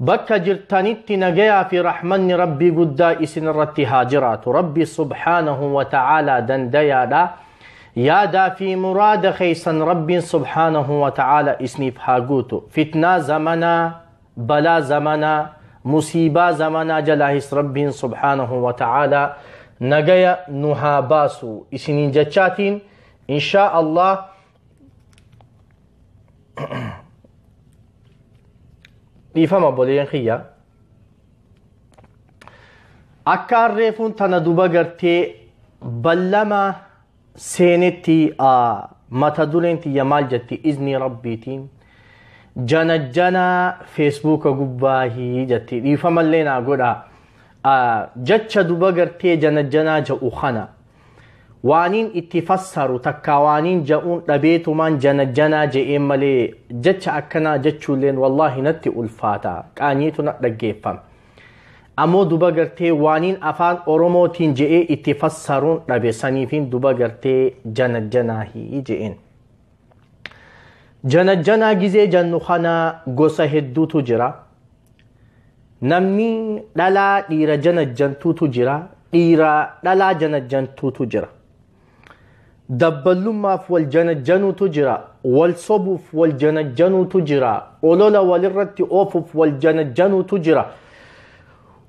Bakka jirtanitti nagayaa fi rahmanni Rabbii guddaa isin irratti haa jiraatu. Rabbi subhaanahu wa ta'aalaa dandayaadha. Yaadaa fi muraada keessan Rabbiin subhaanahu wa ta'aalaa isiniif haa guutu. Fitnaa zamanaa, balaa zamanaa, musiibaa zamanaa jalaahis Rabbiin subhaanahu wa ta'aalaa nagaya nu haa baasu. Isiniin jechaatiin inshaa Allah dhiifama obboleeyyan kiyya akka harreefuun tana duba gartee ballama seenetti mata dureen tiyya maal jetti iznii rabbiitiin janajjanaa feesbuuka gubbaahii jetti dhiifamallee naa godha jecha duba gartee janajjanaa ja'u kana waaniin itti fassaru takkaa waaniin ja'uun dhabeetumaan janajjanaa je'een malee jecha akkanaa jechuulleen wallaahi natti ulfaata qaanyiitu na dhaggeeffama ammoo duba gartee waaniin afaan oromootiin je'ee itti fassaruun dhabe saniifiin duba gartee janajjanaahii je'een janajjanaa gizee jannu kanaa gosa hedduutu jira Namni dhalaa dhiira janajjantuutu jira. Dhiira dhalaa janajjantuutu jira. Dabballummaaf wal janajjanuutu jira. Wal sobuuf wal janajjanuutu jira. Olola walirratti oofuuf wal janajjanuutu jira.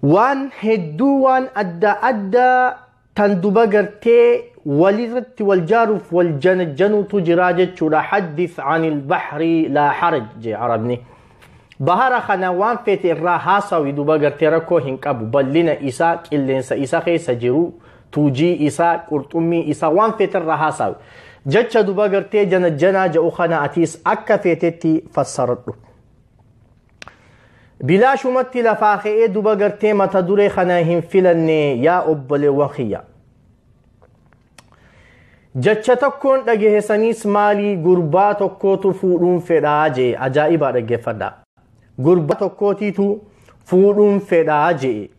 Waan hedduu waan adda addaa tan duba gartee walirratti wal jaaruuf wal janajjanuutu jiraa jechuudha haddis anil bahri laa haraj jee arabni bahara kana waan feete irraa haasawi duba gartee rakkoo hin qabu bal'ina isaa qilleensa isa keessa jiru tuujii isaa qurxummii isaa waan feete irraa haasawi jecha duba gartee janajjanaa ja'u kana atiis akka feetetti fassaradhu Bilaashumatti lafaa ka'ee duba gartee mata duree kana hin filanne yaa obboleewwan kiyya. Jecha tokkoon dhagahesaniis maalii gurbaa tokkootu fuudhuun fedhaa jee ajaa'ibaa dhaggeeffadha. Gurbaa tokkootiitu fuudhuun fedhaa jee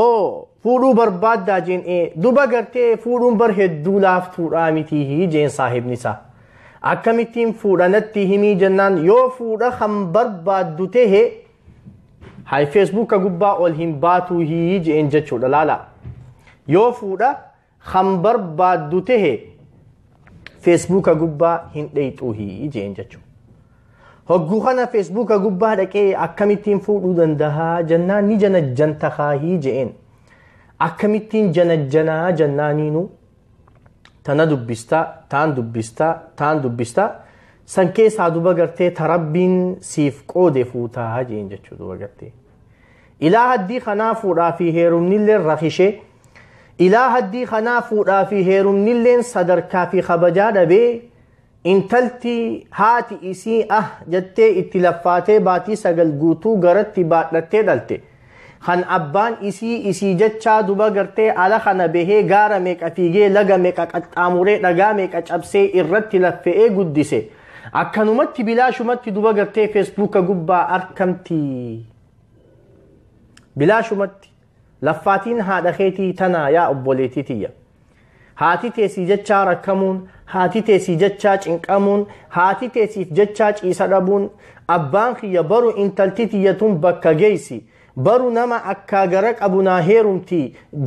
oo fuudhuu barbaaddaa jeen ee duba gartee fuudhuun bar hedduu laaftuudhaa mitii jeen saahibni isaa akkamittiin fuudha natti himii jennaan yoo fuudha kan barbaaddu tahe hay feesbuuka gubbaa ol hin baatuu hii jeen jechuudha laala yoo fuudha kan barbaaddu tahe feesbuuka gubbaa hin dheeyxuuhi jeen jechuu hogguu kana feesbuuka gubbaa dhaqee akkamittiin fuudhuu dandahaa jennaan ni janajjanta kaahii jeen akkamittiin janajjanaa jennaaniinu tana dubbistaa taan dubbistaa taan dubbistaa san keessaa duba gartee ta rabbiin siif qoode fuutaa jeen jechuu duba gartee Ilaa haddii kanaa fuudhaa fi heerumnilleen rakishee ilaa haddii kanaa fuudhaa fi heerumnilleen sadarkaa fi kabajaa dhabee intalti haati isii ah jettee itti laffaatee baatii sagal guutuu garatti baadhattee dhalte kan abbaan isii isii jechaa duba gartee ala kana bahee gaara meeqa fiigee laga meeqa qaxxaamuree dhagaa meeqa cabsee irratti laffe'ee guddise. Akkanumatti bilaashumatti duba gartee feesbuuka gubbaa arkamti. Bilaashumatti laffaatiin haadha keetii tanaa yaa obboleetii tiyya. Haati teessii jechaa rakkamuun, haati teessii jechaa cinqamuun, haati teessiif jechaa ciisa dhabuun, abbaan kiyya baru intalti tiyya tun bakka geessi. Baru nama akkaa gara qabu naa heerumti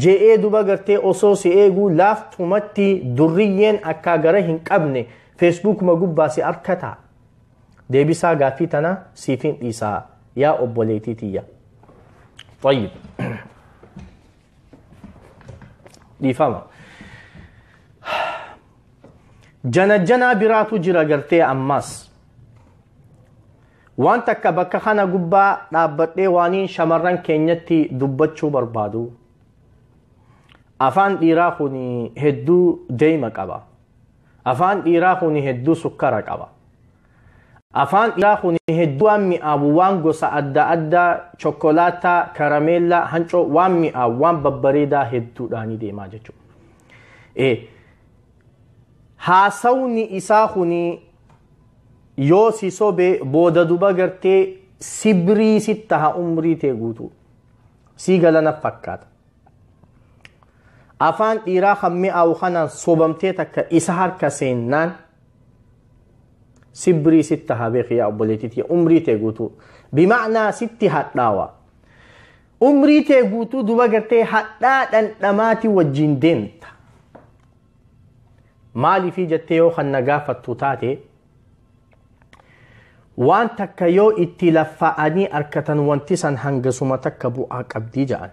je'ee duba gartee osoo si eeguu laaftumatti durriyyeen akkaa gara hin qabne Facebook ma gubbaa si arkata deebisaa gaaffii tana siifin dhiisaa yaa obboleetii tiyya طيب dhiifama janajjanaa biraatu jira gartee ammaas waan takka bakka kana gubbaa dhaabbadhee waaniin shamarran keenyatti dubbachuu barbaadu afaan dhiiraa kun hedduu deema qaba Afaan dhiiraa kuni hedduu sukkara qaba. Afaan dhiiraa kuni hedduu waan mi'aawu waan gosa adda addaa chokkolaataa, karameellaa, hancoo waan mi'aawu waan babbareedaa hedduudhaanii deemaa jechuudha. Eh, haasawni isaa kuni yoo si sobe booda duba gartee sibrii sitti taha umrii tee guutuu. Sii galana fakkaata. afaan dhiiraa kan mi'aawu kanaan sobamtee takka isa harka seennaan sibrii sitti haa beeki yaa obboleettiiti umrii tee guutuu bima'naa sitti hadhaawa umrii tee guutuu duba gartee hadhaa dhandhamaati wajjin deemta maaliifii jettee yoo kan na gaafattu taate waan takka yoo itti laffaa'anii arkatan wanti san hangasuma takka bu'aa qabdii ja'an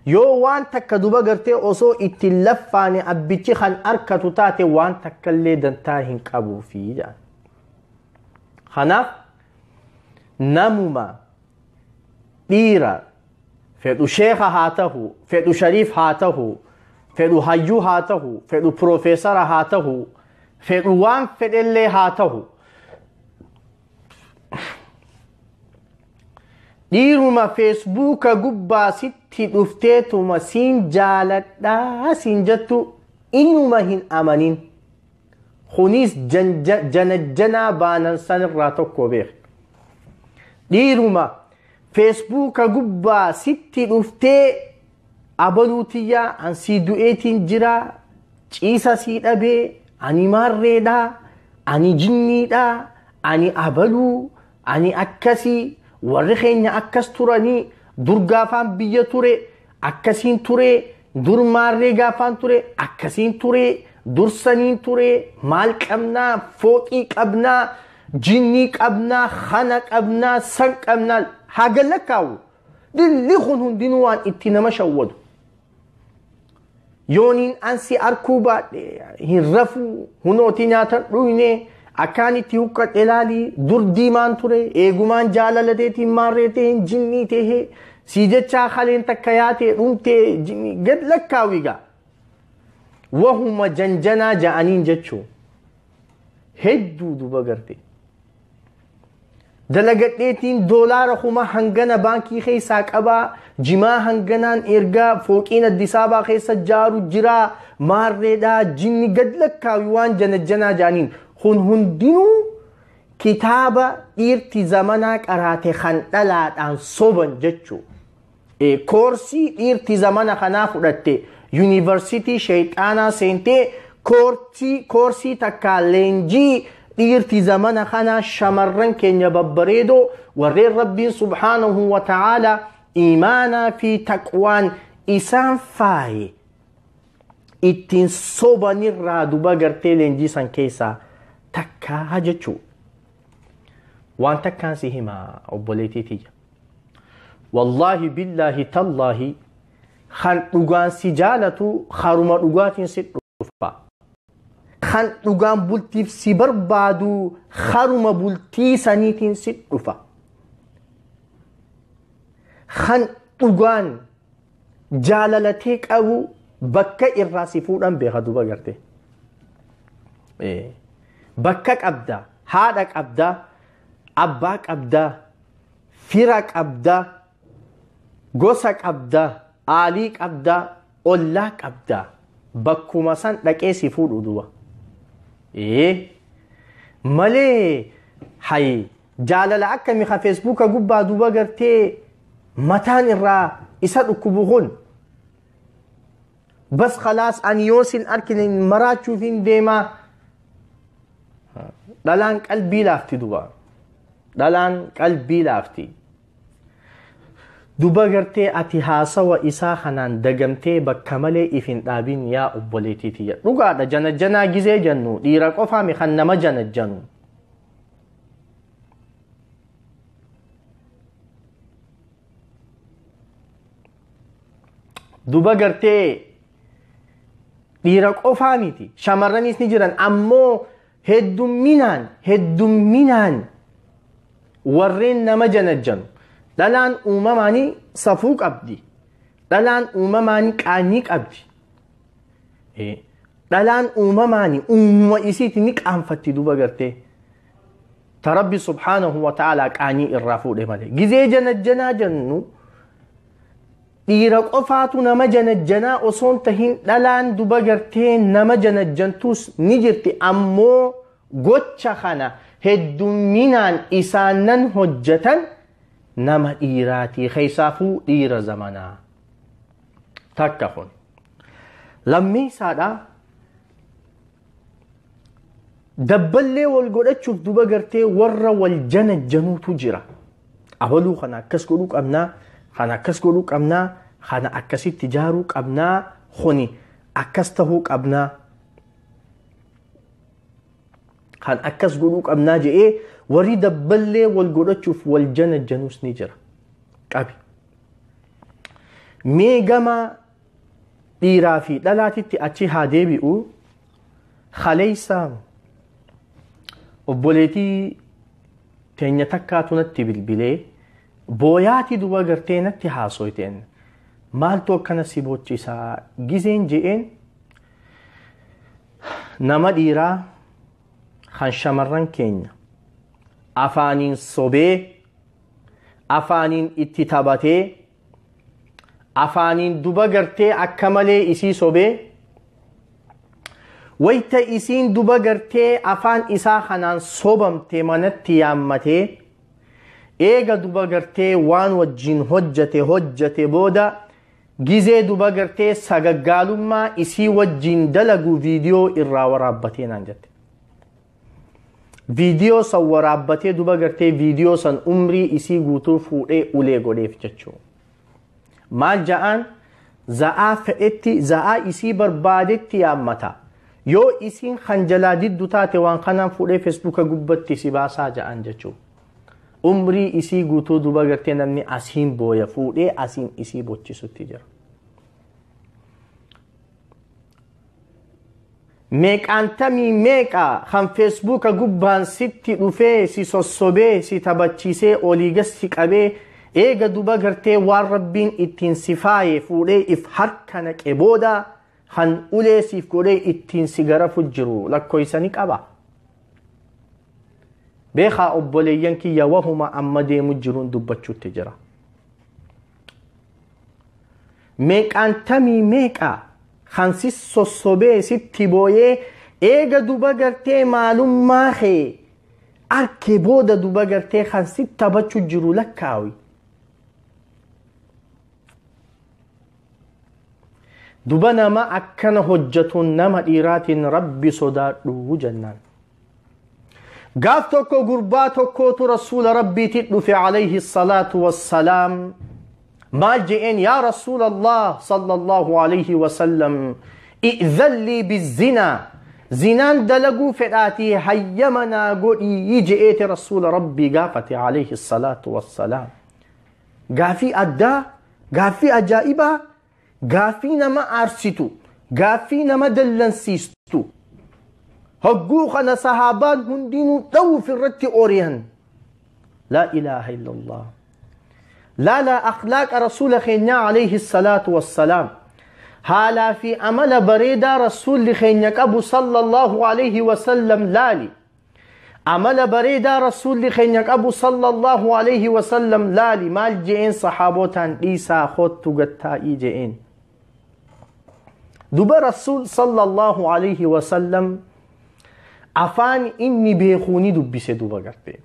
yoo waan takka duba gartee osoo itti laffaane abbichi kan arkatu taate waan takkallee dantaa hin qabuufi ja'an kanaaf namuma dhiira fedhu sheeka haa tahu fedhu shariif haa tahu fedhu hayyuu haa tahu fedhu piroofeesara haa tahu fedhu waan fedhellee haa tahu dhiiruma feesbuuka gubbaa sitti dhufteetuma siin jaaladhaa siin jettu inuma hin amanin kunis janajjanaa baanan sanirraa tokko beek dhiiruma Feesbuuka gubbaa sitti dhuftee abaluu tiyyaa an sii du'eetiin jira ciisa sii dhabee ani maarreedha ani jinniidha ani abaluu ani akkasii warri keenya akkas turanii dur gaafaan biyya ture akkasiin ture Dur maarree gaafaan ture akkasiin ture dursaniin ture maal qabnaa fooqii qabnaa jinnii qabnaa hana qabnaa san qabnaa haa gallakkaawu dilli kun hundinuu waan itti nama shawwadu. Yooniin ansi arkuu baadhe hin rafuu hunooti nyaatan dhuyne akkaan itti huqqadhe laalii dur diimaan ture eegumaan jaalala teetiin maarree ta'een jinnii ta'ee Sii jechaa kaleen takka yaatee dhumtee jini- gad lakkaawi gaa. Wahuma janjanaa ja'aniin jechuu. Hedduu duba garte. Dalagadheetiin doolaara kuma hangana baankii keessaa qabaa jimaa hanganaan ergaa fooqiin addisaabaa keessa jaaru jiraa maarreedhaa jinni gad lakkaawi waan janajjanaa ja'aniin kun hundinuu kitaaba dhiirti zamanaa qaraate kan dhalaadhaan soban jechuu koorsii dhiirti zamana kanaa fudhatte yuunivarsitii sheexaanaa seentee koorsii takkaa leenjii dhiirti zamana kanaa shamarran keenya babbareedoo warreen rabbiin subhaanahu wa ta'aala iimaanaa fi taqwaan isaan faaye ittiin sobanirraa duba gartee leenjii san keessaa takkaa jechuu waan takkaan si hima obboleetii tiyya wallaahi billaahi tallaahi kan dhugaan si jaalatu haruma dhugaatiin si dhufa kan dhugaan bultiif si barbaadu haruma bultii saniitiin si dhufa kan dhugaan jaalalatee qabu bakka irraa si fuudhan beeka duba garte. Bakka qabda, haadha qabda, abbaa qabda, fira qabda, gosa qabda, aalii qabda, ollaa qabda. Bakkuma san dhaqee si fuudhu duba. Malee hayi Jaalala akkami ka feesbuuka gubbaa duuba gartee mataan irraa isa dhukkubu kun. Bas khalaas ani yoo sin arkine maraachuuf hin deemaa. Dhalaan qalbii laafti duba. Dhalaan qalbii laafti. Duba gartee ati haasawa isaa kanaan dagamtee bakka malee if hin dhaabin yaa obboleettii tiyya. Dhugaadha janajjanaa gizee jennu dhiira qofaami kan nama janajjanu. duba gartee dhiira qofaa miti shamarranis ni jiran ammoo heddumminaan heddumminaan warreen nama janajjanu dhalaan uumamaanii safuu qabdi dhalaan uumamaanii qaanyii qabdi dhalaan uumamaani uumama isiiti ni qaanfatti duba gartee ta rabbi subhaanahu wa ta'aalaa qaanii irraa fuudhe malee gizee janajjanaa jennu dhiira qofaatu nama janajjanaa osoon tahin dhalaan duba gartee nama janajjantuus ni jirti ammoo gocha kana heddumminaan isaannan hojjatan nama dhiiraatii keessaafuu dhiira zamanaa takka kun lammiinsaadhaa dabballee wal godhachuuf duba gartee warra wal janajjanuutu jira abaluu kana akkas godhuu qabnaa kana akkas godhuu qabnaa kana akkasitti jaaruu qabnaa kuni akkas tahuu qabnaa kan akkas godhuu qabnaa je'ee warri dabballee wal godhachuuf wal janajjanuus ni jira qabi mee gama dhiiraa fi dhalaatitti achi haa deebi'u kaleessa obboleetii teenya takkaatu natti bilbilee booyaati duba gartee natti haasoyteen maaltu akkana si boochisaa gizeen je'een nama dhiiraa kan shamarran keenya afaaniin sobee afaaniin itti taphatee afaaniin duba gartee akka malee isii sobee wayta isiin duba gartee afaan isaa kanaan sobamte manatti yaammatee eega duba gartee waan wajjin hojjate hojjate booda gizee duba gartee sagaggaalummaa isii wajjin dalagu viidiyoo irraa waraabbatee naan jette. viidiyoo san waraabbatee duba gartee viidiyoo san umrii isii guutuu fuudhee ulee godheef jechuu maal ja'aan za'aa fedhetti za'aa isii barbaadetti yaammata yoo isiin kan jalaa diddu taate waan kanaan fuudhee feesbuuka gubbatti si baasaa ja'aan jechuu umrii isii guutuu duba gartee namni asiin booya fuudhee asiin isii bochisutti jira meeqaantamii meeqa kan feesbuuka gubbaan sitti dhufee si sossobee si tabachiisee olii gas si qabee eega duba gartee waan rabbiin ittiin si faaye fuudhee if harka naqe booda kan ulee siif godhee ittiin si garafu jiru lakkoofsa ni qaba. Beekaa obboleeyyan kiyya wahuma amma deemu jiruun dubbachuutti jira. Meeqaan tamii meeqa kan si sossobee sitti booyee eega duba gartee maalummaa kee arke booda duba gartee kan si tabachu jiru lakkaawi. Duba nama akkana hojjatuun nama dhiiraatiin rabbi sodaadhu jennaan. gaaf tokko gurbaa tokkootu rasuula rabbiitti dhufe alayhi salaatu wassalaam maal je'een yaa rasuula allah sallallahu alayhi wasallam i'zan lii bizinaa zinaan dalaguu fedhaatii hayyama naa godhii je'eeti rasuula rabbii gaafate alayhi salaatu wassalaam gaafii addaa gaaffii ajaa'ibaa gaaffii nama aarsitu gaaffii nama dallansiistu hogguu kana sahaabaan hundinuu dha'uuf irratti ori'an laa ilaaha illallah laala akhlaaqa rasuula keenyaa alayhi salaatu wassalaam haalaa fi amala bareedaa rasuulli keenya qabu sallallahu alayhi wasallam laali amala bareedaa rasuulli keenya qabu sallallahu alayhi wasallam laali maal je'een sahaabootaan dhiisaa hoottu gattaa'ii je'een duba rasuul sallallahu alayhi wasallam afaan inni beekuu ni dubbise duba gartee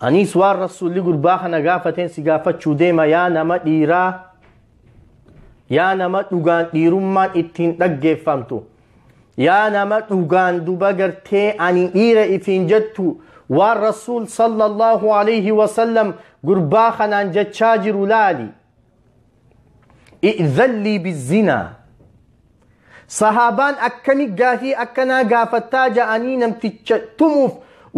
aniis waan rasuulli gurbaa kana gaafateen si gaafachuu deema yaa nama dhiiraa yaa nama dhugaan dhiirummaan ittiin dhaggeeffamtu yaa nama dhugaan duba gartee ani dhiira ifiin jettu waan rasuul sallallahu alayhi wasallam gurbaa kanaan jechaa jiru laali i'zallii bizzinaa sahaabaan akkami gaafii akkanaa gaafattaa ja'anii namticha tumuuf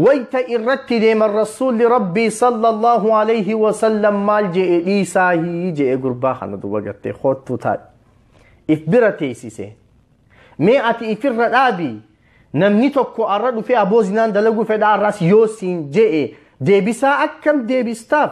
wayta irratti deeman rasuulli rabbii sallallahu alayhi wasallam maal je'e dhiisaahii je'e gurbaa kana duba gartee koottuu taadhi if bira teessise mee ati ifirra dhaabi namni tokko arra dhufee aboo zinaan dalaguu fedhaa arraas yoo siin je'e deebisaa akkam deebistaaf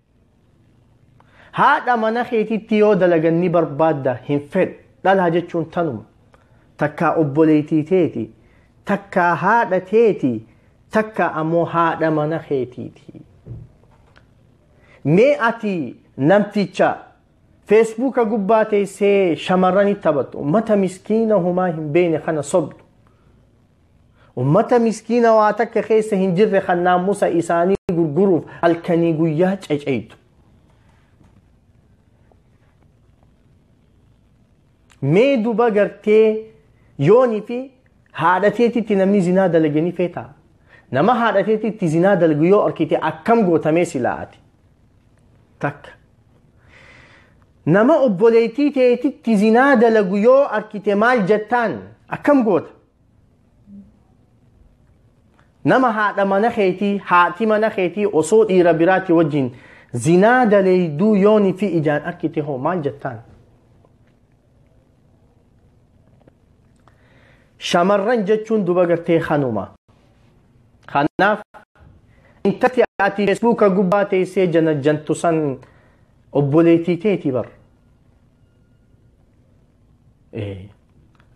haadha mana keetitti yoo dalagan ni barbaadda hin fedhu dhalaa jechuun tanuma takkaa obboleettii teeti takkaa haadha teeti takkaa ammoo haadha mana keetiiti mee ati namticha feesbuuka gubbaa teessee shamarranitti taphattu mata miskiina homaa hin beekne kana sobdu Ummata miskiina waa takka keessa hin jirre kan naamusa isaanii gurguruuf halkanii guyyaa ceceytu. Mee duba gartee yoonii fi haadha teetitti namni zinaa dalage ni feetaa? Nama haadha teetitti zinaa dalagu yoo argite akkam gootamee silaa ati? Takka. Nama obboleettii teetitti zinaa dalagu yoo argite maal jettaan? Akkam goota? nama haadha mana keetii haati mana keetii osoo dhiira biraati wajjin zinaa daleeyduu yooni fi ijaan arkite hoo maal jettaan shamarran jechuun duba gartee kanuma kanaaf intatti ati feesbuuka gubbaa teessee janajjantu san obboleetii teeti bar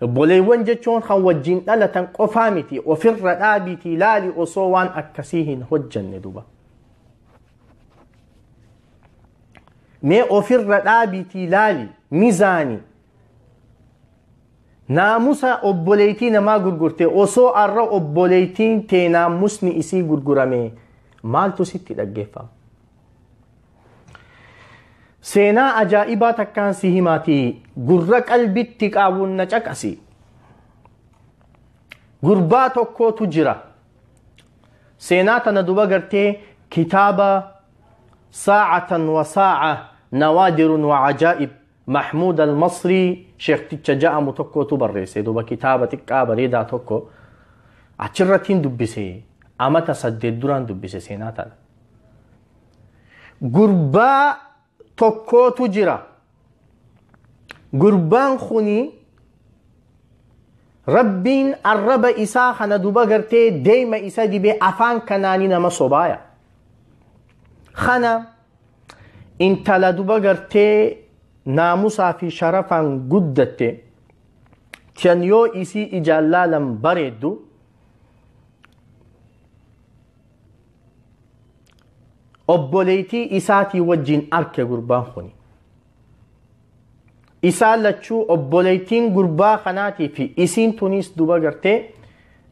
Obboleewwan jechuun kan wajjin dhalatan qofaa miti ofirra dhaabiitii ilaali osoo waan akkasii hin hojjanne duba. Mee ofirra dhaabiitii ilaali mizaani naamusa obboleettii namaa gurgurte osoo arra obboleettiin tee naamusni isii gurgurame maaltu sitti dhaggeeffama? Seenaa ajaa'ibaa takkaan si himaatii gurra qalbitti qaawwuun na caqasi. Gurbaa tokkootu jira. Seenaa tana duba gartee kitaaba saacatan wa saaca nawaadirun wa ajaa'ib Mahmuud al-Masrii sheekticha ja'amu tokkootu barreesse duba kitaaba xiqqaa bareedaa tokko achirrattiin dubbise amata saddeet duraan dubbise seenaa tana. gurbaa tokkootu jira gurbaan kuni rabbiin arraba isaa kana duba gartee deema isa dibe afaan kanaani nama sobaaya kana intala duba gartee naamusaa fi sharafaan guddatte tan yoo isii ijaan laalan bareeddu obboleeytii isaatii wajjiin arke gurbaan kuni isaa lachuu obboleeytiin gurbaa kanaatii fi isiin tuniis duba gartee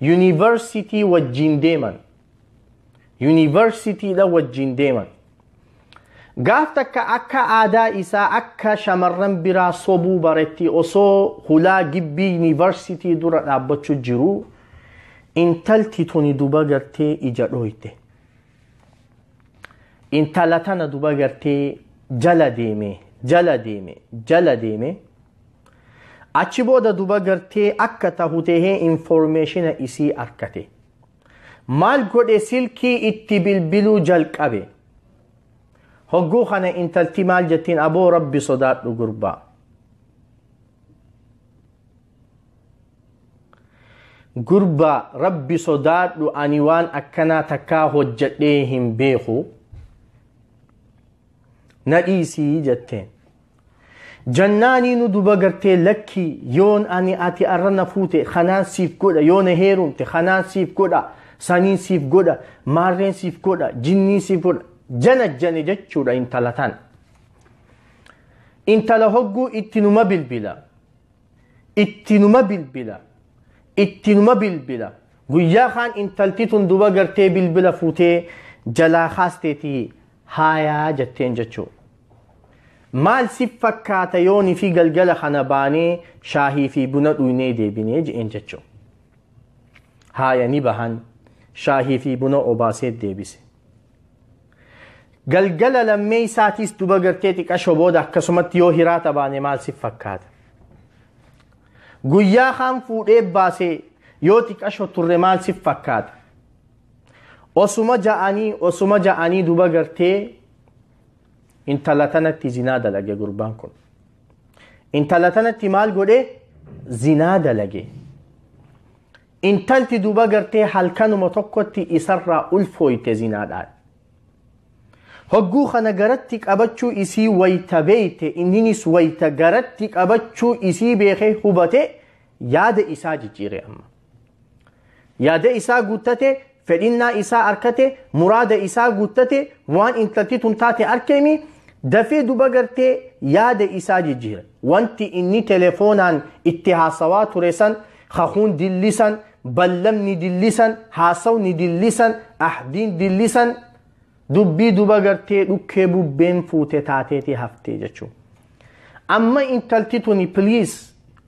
yuunivarsitii wajjiin deeman yuunivarsitiidha wajjiin deeman Gaaf takka akka aadaa isaa akka shamarran biraa sobuu baretti osoo hulaa gibbii yuunivarsiitii dura dhaabbachuu jiru intalti tuni duba gartee ija dhooyte. Intala tana duba gartee jala deeme jala deeme jala deeme achi booda duba gartee akka tahu tahee informeeshina isii arkate. maal godhe silkii itti bilbiluu jalqabe hogguu kana intalti maal jettiin aboo rabbi sodaadhu gurbaa gurbaa rabbi sodaadhu ani waan akkanaa takkaa hojjedhee hin beeku na dhiisii jetteen Jannaanii nu duba gartee lakkii yoon ani ati arra na fuute kanaan siif godha yoo na heerumte kanaan siif godha saniin siif godha maarreen siif godha jinnii siif godha jana jane jechuudha intala tan. Intala hogguu itti numa bilbila itti numa bilbila itti numa bilbila guyyaa kaan intalti tun duba gartee bilbila fuutee jalaa kaasteetii haayaa jetteen jechuudha. Maal si fakkaata yooni fi galgala kana baanee shaahii fi buna dhuynee deebinee je'een jechuu. Haaya ni bahan shaahii fi buna obaasee deebise. Galgala lammee isaatiis duba gartee xiqasho booda akkasumatti yoo hiraata baane maal si fakkaata. Guyyaa kaan fuudhee baasee yoo xiqasho turre maal si fakkaata. Osuma ja'anii osuma ja'anii duba gartee intala tanatti zinaa dalage gurbaan kun intala tanatti maal godhe zinaa dalage intalti duba gartee halkanuma tokkotti isarraa ulfooyte zinaadhaan hogguu kana garatti qabachuu isii wayta beeyte inninis wayta garatti qabachuu isii beekee hubate yaada isaa jijjiire amma yaada isaa guuttate fedhinnaa isaa arkate muraada isaa guuttate waan intalti tun taate arkeemi dafee duba gartee yaada isaa jijjiira wanti inni telefoonaan itti haasawaa ture san kakuun dillisan ballamni dillisan haasawni dillisan ahdiin dillisan dubbii duba gartee dhukkee bubbeen fuute taateetii haftee jechuu amma intalti tuni piliis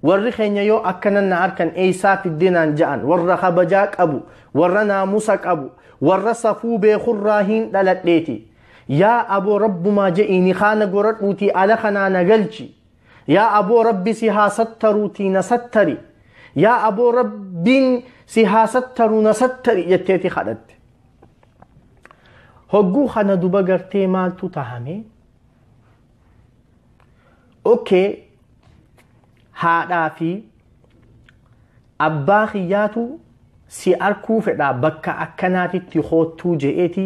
warri keenya yoo akkanan na arkan eeysaa fiddinaan ja'an warra kabajaa qabu warra naamusa qabu warra safuu beekurraa hin dhaladheeti yaa aboo rabbumaa je'iini kaana goradhuutii ala kanaa na galchi yaa aboo rabbi si haa sattaruutii na sattari yaa aboo rabbiin si haa sattaru na sattari jetteeti kadhatte hogguu kana duba gartee maaltu tahame okay haadhaa fi abbaa kiyyaatu si arkuu fedhaa bakka akkanaatitti hoottuu je'eeti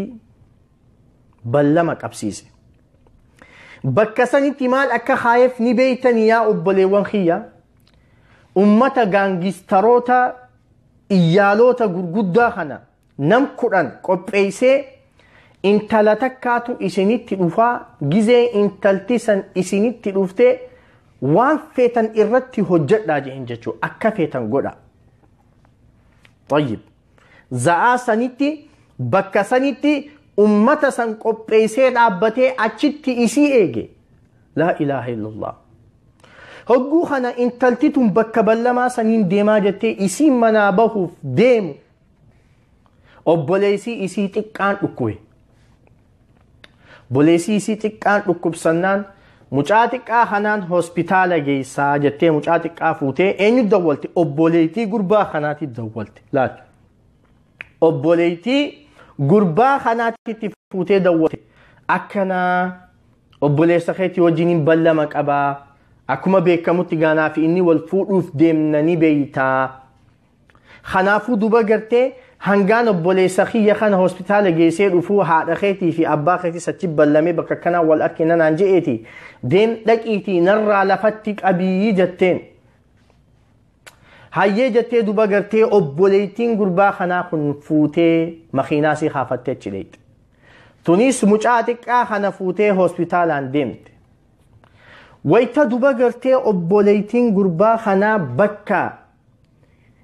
ballama qabsiise bakka sanitti maal akka kaayeef ni beeytanii yaa obboleewwan kiyya ummata gaangistaroota iyyaaloota gurguddaa kana nam kudhan qopheeysee intala takkaatu isinitti dhufaa gizee intalti san isinitti dhufte waan feetan irratti hojjedhaa jeen jechuu akka feetan godha طيب za'aa sanitti bakka sanitti ummata san qopheeysee dhaabbatee achitti isii eege laa ilaaha illallah hogguu kana intalti tun bakka ballamaa saniin deemaa jettee isiin manaa bahuuf deemu Obboleessii isii xiqqaan dhukkube. Obboleessii isii xiqqaan dhukkubsannaan mucaa xiqqaa kanaan hospitaala geessaa jettee mucaa xiqqaa fuutee eenyu dawwalte obboleettii gurbaa kanaatti dawwalte laal. Obboleettii gurbaa kanaatti itti fuutee dawwalte akkanaa obboleessa keetti wajjin hin ballama qabaa akkuma beekamutti gaanaa fi inni wal fuudhuuf deemnanii beeytaa. Kanaafuu duba gartee hangaan obboleessa kiyya kana hospitaala geessee dhufuu haadha keetii fi abbaa keetis achi ballamee bakka kanaa wal argina naan je'eeti deem dhaqiitii narraa lafatti qabii jetteen. Hayyee jettee duba gartee obboleettiin gurbaa kanaa kun fuutee makiinaa sii kaafattee achi dheeyte. Tunis mucaa xiqqaa kana fuutee hospitaalaan deemte. Wayita duba gartee obboleettiin gurbaa kanaa bakka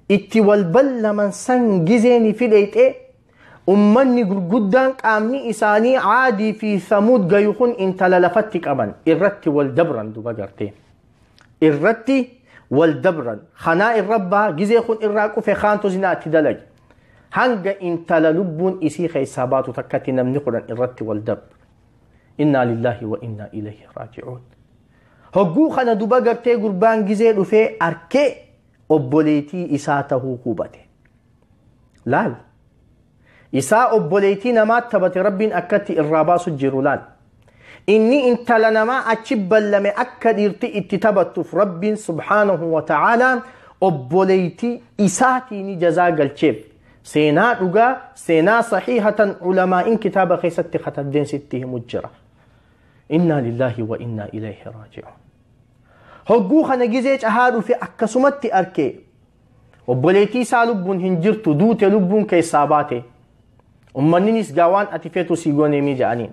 itti wal ballaman san gizee ni fideyxe ummanni gurguddaan qaamni isaanii aadii fi samuud gayu kun intala lafatti qaban irratti wal dabran duba gartee irratti wal dabran kanaa irra baa gizee kun irraa qufe kaantu zinaa itti dalage hanga intala lubbuun isii keessaa baatu takkatti namni kudhan irratti wal dabra innaa lillaahi wa innaa ilayhi raaji'uun Hogguu kana duba gartee gurbaan gizee dhufee arkee obboleetii isaa tahuu hubate. Laal. Isaa obboleetii namaa taphate rabbiin akkatti irraa baasu jiru laal. Inni intala namaa achi ballame akka dhiirti itti taphattuuf rabbiin subhaanahu wa ta'aalaan obboleetii isaatiin jazaa galcheef. Seenaa dhugaa, seenaa sahiihatan ulamaa'in kitaaba keessatti katabdeen sitti himu jira. Innaa lillaahi wa innaa ilayhi raaji'uun. Hogguu kana gizee cahaa dhufe akkasumatti arke. Obboleettii isaa lubbuun hin jirtu duute lubbuun keessaa baate. Ummanninis gaa waan ati feetu sii goneemii jedhaniin.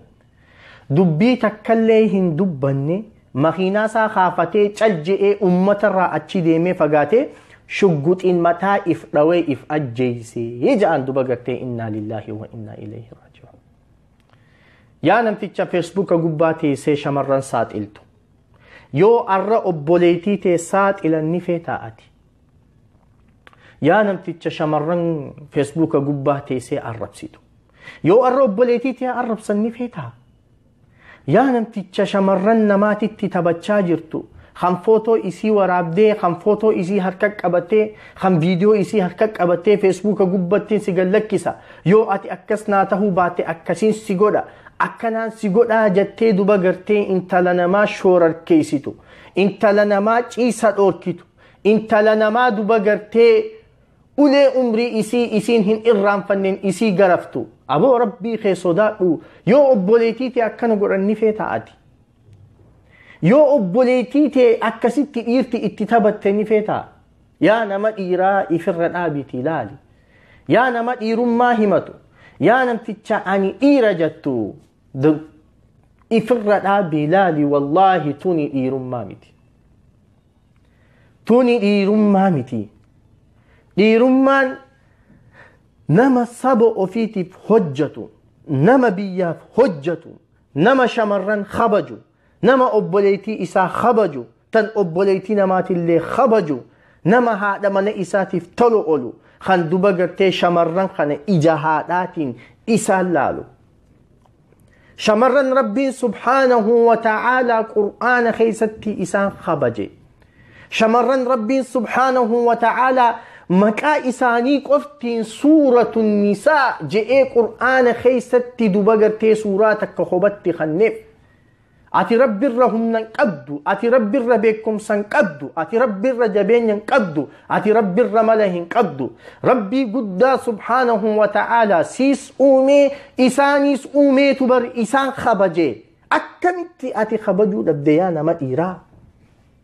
Dubbii takkallee hin dubbanne makiinaa isaa kaafatee cal je'ee ummatarraa achi deemee fagaatee shugguxiin mataa if dhawee if ajjeesee jedhan duba gartee innaa lillaahi wa innaa ilayhi raaji'uun. Yaa namticha feesbuuka gubbaa teessee shamarran saaxiltu. Yoo arra obboleettii tee saaxilan ni feetaa ati. Yaa namticha shamarran feesbuuka gubbaa teessee arrabsitu. Yoo arra obboleettii tee arrabsan ni feetaa. Yaa namticha shamarran namaatitti taphachaa jirtu. Kan footoo isii waraabdee, kan footoo isii harka qabatee, kan viidiyoo isii harka qabattee feesbuuka gubbattiin si gallakkisa yoo ati akkas naa tahuu baatte akkasiin si godha akkanaan si godhaa jattee duba gartee intala namaa shoorarkeessitu intala namaa ciisa dhoorkitu intala namaa duba gartee ulee umrii isii isiin hin irraanfannen isii garaftu aboo rabbii kee sodaadhu yoo obboleetiitee akkana godhanni feeta ati yoo obboleetiitee akkasitti dhiirti itti taphatte ni feeta yaa nama dhiiraa ifirra dhaabiti ilaali yaa nama dhiirummaa himatu yaa namticha ani dhiira jettu ifirra dhaabi ilaali wallaahi tuni dhiirummaa miti tuni dhiirummaa miti dhiirummaan nama saba ofiitiif hojjatu nama biyyaaf hojjatu nama shamarran kabaju nama obboleeytii isaa khabaju tan obboleeytii namaatillee khabaju nama haadha mana isaatiif tolu olu kan duba gartee shamarran kana ija haadhaatiin isaan laalu shamarran rabbiin subhaanahu wa ta'aalaa qur'aana keessatti isaan khabaje shamarran rabbiin subhaanahu wa ta'aalaa maqaa isaanii qoftiin suuratu nisaa je'ee qur'aana keessatti duba gartee suuraa takka hobatti kanneef Ati rabbi irra humna hin qabdu, ati rabbi irra beekumsa hin qabdu, ati rabbi irra jabeenya hin qabdu, ati rabbi irra mala hin qabdu. Rabbii guddaa subhaanahu wa ta'aalaa siis uumee isaaniis uumeetu bar isaan kabaje. Akkamitti ati kabajuu dhabde yaa nama dhiiraa?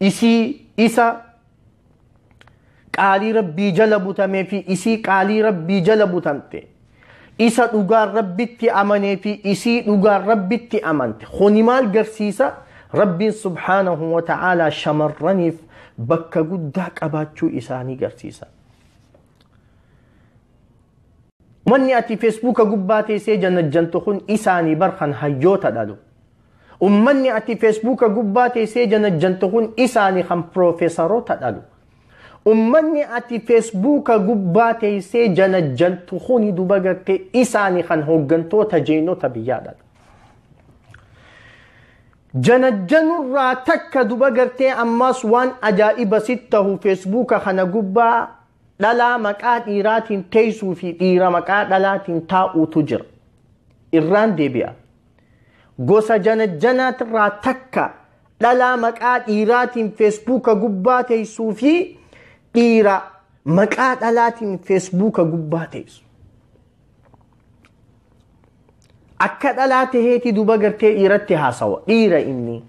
isii isa qaalii rabbii jala butamee fi isii qaalii rabbii jala butamte isa dhugaan rabbitti amanee fi isii dhugaan rabbitti amante kuni maal garsiisa rabbiin subhaanahu wa ta'aalaa shamarraniif bakka guddaa qabaachuu isaanii garsiisa Umanni ati feesbuuka gubbaa teessee janajjantu kun isaanii bar kan hayyoota dhalu. Ummanni ati feesbuuka gubbaa teessee janajjantu kun isaanii kan piroofeesaroota dhalu. Ummanni ati feesbuuka gubbaa teessee janajjantu kuni duba gartee isaanii kan hooggantoota jeenota biyyaa dhalu. Janajjanurraa takka duba gartee ammaas waan ajaa'iba sitti tahu feesbuuka kana gubbaa Dhalaa maqaa dhiiraatiin teessuu fi dhiira maqaa dhalaatiin taa'uutu jira. Irraan deebi'a. Gosa janajjanaatirraa takka dhalaa maqaa dhiiraatiin feesbuuka gubbaa teessuu fi dhiira maqaa dhalaatiin feesbuuka gubbaa teessu. Akka dhalaa taheeti duba gartee dhiiratti haasawa. Dhiira inni.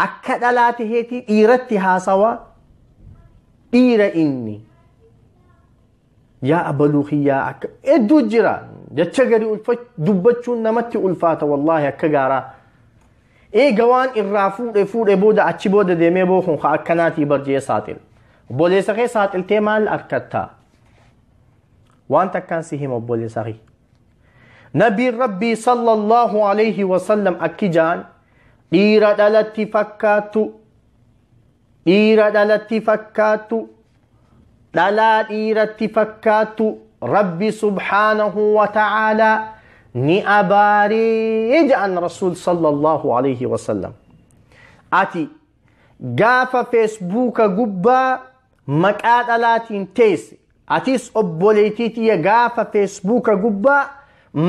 akka dhalaa taheetii dhiiratti haasawaa dhiira inni yaa abaluu kiyyaa akka hedduu jira jecha gadi ulfa- dubbachuun namatti ulfaata wallaahi akka gaaraa eega waan irraa fuudhe fuudhe booda achi booda deemee bookun ka akkanaatii barjee saaxil obboleessa kee saaxiltee maal arkatta waan takkaan si hima obboleessa kee Nabiin Rabbii sallallahu alayhi wasallam akki jaan dhiira dhalatti fakkaattu dhiira dhalatti fakkaattu dhalaa dhiiratti fakkaattu Rabbi subhaanahu wa ta'aalaa ni abaaree ja'an Rasuul sallallahu alayhi wasallam. Ati gaafa feesbuuka gubbaa maqaa dhalaatiin teesse atis obboleettii tiyya gaafa feesbuuka gubbaa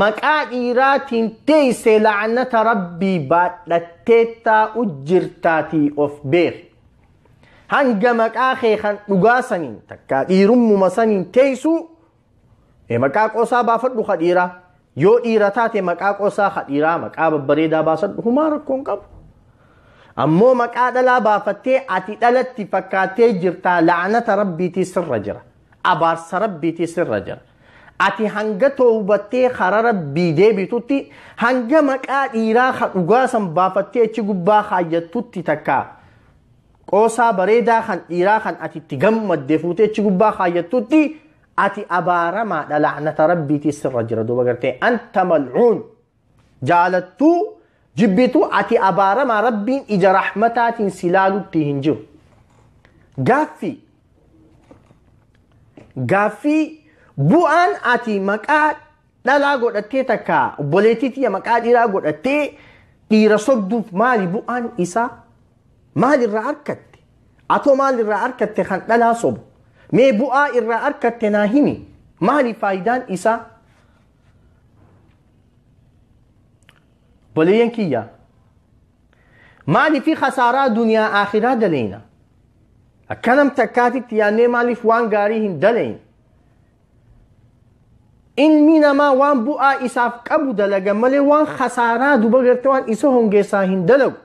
maqaa dhiiraatiin teesse la'anata rabbii baadhattee taa'u jirtaatii of beeki. Hanga maqaa kee kan dhugaa saniin takkaa dhiirummuma saniin teessuu Ee maqaa qoosaa baafadhu ka dhiiraa. Yoo dhiira taate maqaa qoosaa ka dhiiraa maqaa babbareedaa baasadhu humaa rakkoo hin qabu. Ammoo maqaa dhalaa baafattee ati dhalatti fakkaattee jirtaa la'anata rabbiitii sirra jira. Abaarsa rabbiitii sirra jira. Ati hanga toobattee karaa rabbii deebitutti hanga maqaa dhiiraa ka dhugaa san baafattee achi gubbaa kaayyattutti takkaa. Qoosaa bareedaa kan dhiiraa kan ati itti gammadde fuutee achi gubbaa kaayyattutti ati abaaramaadha laanata rabbiitii sirra jira duuba gartee anta mal'uun jaalattuu jibbituu ati abaaramaa rabbiin ija rahmataatiin si laalutti hin jiru. Gaaffii gaaffii bu'aan ati maqaa dhalaa godhattee takka obboleettii tiyya maqaa dhiiraa godhattee dhiira sobduuf maali bu'aan isaa maal irraa arkatte atoo maal irraa arkatte kan dhalaa sobu mee bu'aa irraa arkatte naa himi maali faayidaan isaa obboleeyyan kiyya maaliif khasaaraa duniyaa aakhiraa daleeyna akkanam takkaatitti yaannee maaliif waan gaarii hin daleeyne Ilmi namaa waan bu'aa isaaf qabu dalaga malee waan khasaaraa duba garte waan isa hongeessaa hin dalagu.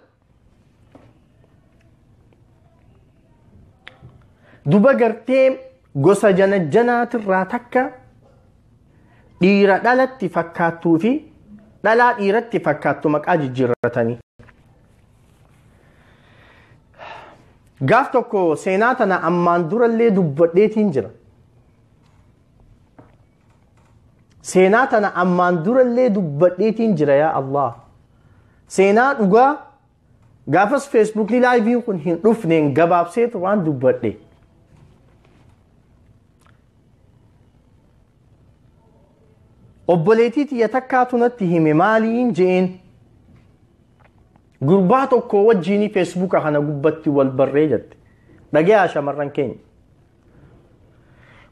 Duba gartee gosa janajjanaatirraa takka dhiira dhalatti fakkaattuu fi dhalaa dhiiratti fakkaattu maqaa jijjiirratanii. Gaaf tokko seenaa tana ammaan durallee dubbadheetiin jira. seenaa tana ammaan durallee dubbadheetiin jira yaa Allah seenaa dhugaa gaafas feesbuukii laayiviin kun hin dhufneen gabaabseetu waan dubbadhe obboleetii tiyya takkaatu natti hime maaliin je'een gurbaa tokko wajjiinii feesbuuka kana gubbatti wal barree jette dhagayaa shamarran keenya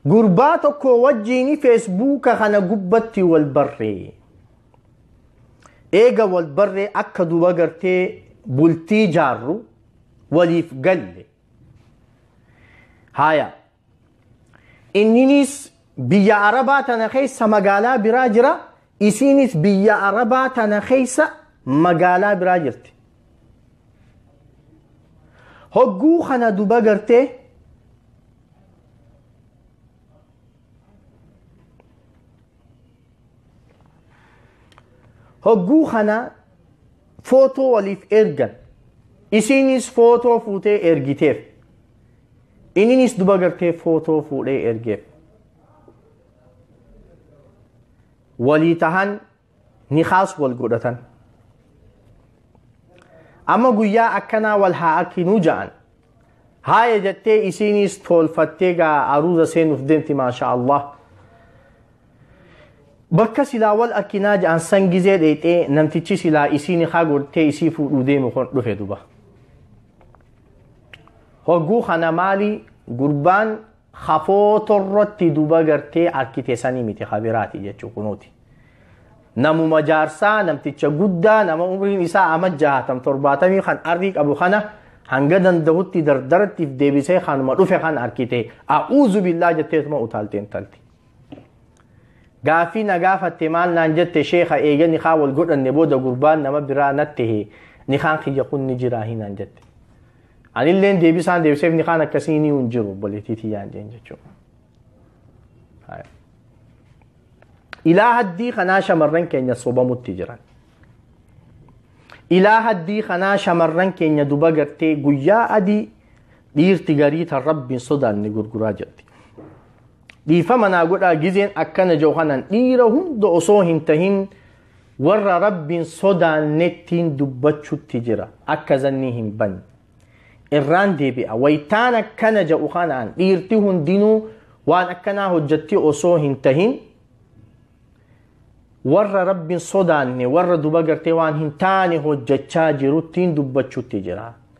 gurbaa tokko wajjiin feesbuuka kana gubbatti wal barree eega wal barree akka duba gartee bultii jaarru waliif galle haaya inninis biyya arabaa tana keessa magaalaa biraa jira isiinis biyya arabaa tana keessa magaalaa biraa jirti hogguu kana duba gartee hogguu kana footoo waliif ergan isiinis footoo fuutee ergiteef ininis duba gartee footoo fuudhee ergeef walii tahan nikaas wal godhatan amma guyyaa akkanaa wal haa akkinuu ja'an haaya jettee isiiniis toolfattee gaa aruuza seenuuf deemti maasha allah bakka silaa wal akkinaa ja'an san gizee dheexee namtichi silaa isii nikaa godhee isii fuudhuu deemu kun dhufe duba hogguu kana maali gurbaan ha footorratti duba gartee arkite sanii miti ha biraati jechuu kunuuti. Namuma jaarsaa namticha guddaa nama umriin isaa ama jahaatam torbaatamii kan arrii qabu kana hanga dandahutti dardarattiif deebisee kanuma dhufe kan arkite a'uuzu billaa jetteetuma utaalte intalti. Gaaffii na gaafatte maal naan jette sheeka eega nikaa wal godhanne booda gurbaan nama biraa natte nikaan kiyya kun ni jiraa hinaan jette. Anilleen deebisaan deebiseef ni kaan akkasii ni hin jiru obboleettii tiyyaan jeen jechuudha. Ilaa haddii kanaa shamarran keenya sobamutti jiran. Ilaa haddii kanaa shamarran keenya duba gartee guyyaa adii dhiirti garii tan rabbiin sodaanne gurguraa jirti. Dhiifama naa godhaa gizeen akkana jiru kanaan dhiira hunda osoo hin tahin warra rabbiin sodaannettiin dubbachutti jira akka zannii hin banne irraan deebi'a waytaan akkana ja'u kanaan dhiirti hundinuu waan akkanaa hojjatti osoo hin tahin warra rabbiin sodaanne warra duba gartee waan hin taane hojjachaa jiruttiin dubbachutti jira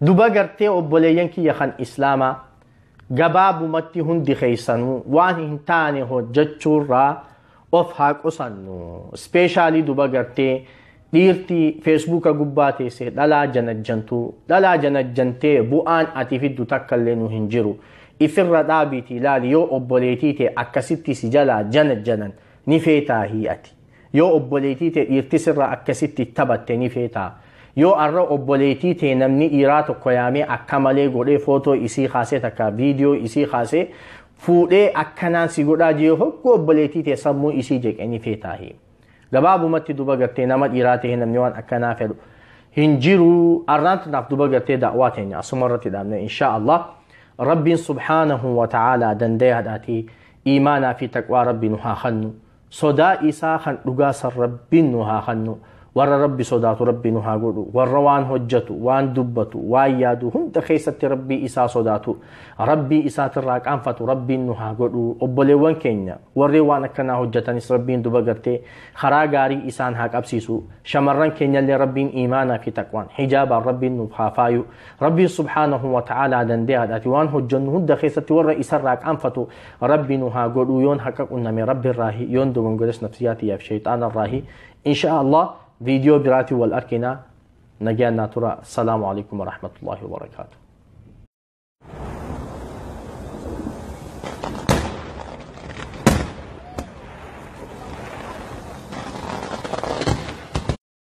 duba gartee obboleeyyan kiyya kan islaamaa gabaabumatti hundi keessanuu waan hin taane hojjechuurraa of haa qusannu ispeeshaalii duba gartee dhiirtii feesbuuka gubbaa teessee dhalaa janajjantuu dhalaa janajjantee bu'aan ati fiddu takka illee nu hin jiru ifirra dhaabiitii ilaali yoo obboleetii tee akkasitti si jalaa janajjanan ni feetaahi ati Yoo obboleetii tee dhiirti sirraa akkasitti tabatte ni feetaa? Yoo arra obboleetii tee namni dhiiraa tokko yaamee akka malee godhee footoo isii kaasee takka viidiyoo isii kaasee fuudhee akkanaan si godhaa jee hoggu obboleetii tee sammuu isii jeqe ni feetaahi. Gabaabumatti duba gartee nama dhiiraa ta'ee namni waan akkanaa fedhu hin jiru arraan tanaaf duba gartee da'waa teenya asuma irratti dhaabne inshaa Allah. Rabbiin subhaanahu wa ta'aalaa dandayaadhaati iimaanaa fi taqwaa rabbi nu haa hannu. Sodaa isaa kan dhugaa san Rabbiin nu haa kannu. Warra Rabbi sodaatu Rabbi nu haa godhu. Warra waan hojjatu, waan dubbatu, waan yaadu hunda keessatti Rabbii isaa sodaatu. Rabbii isaatirraa qaanfatu Rabbiin nu haa godhu. Obboleewwan keenya warri waan akkanaa hojjatanis Rabbiin duba gartee karaa gaarii isaan haa qabsiisu. Shamarran keenyallee Rabbiin iimaanaa fi taqwaan hijaabaan Rabbiin nuuf haa faayu. Rabbiin subhaanahu wa ta'aalaa dandeeyaadhaati waan hojjannu hunda keessatti warra isarraa qaanfatu Rabbi nu haa godhuu yoon haqa qunname rabbi irraahi yoon dogongores nafsiyaa tiyyaaf shayxaana irraahi insha Allah viidiyoo biraatiin wal arkinaa nagaan naa tura salaamu alaikum warahmatullaahi wabarakaatu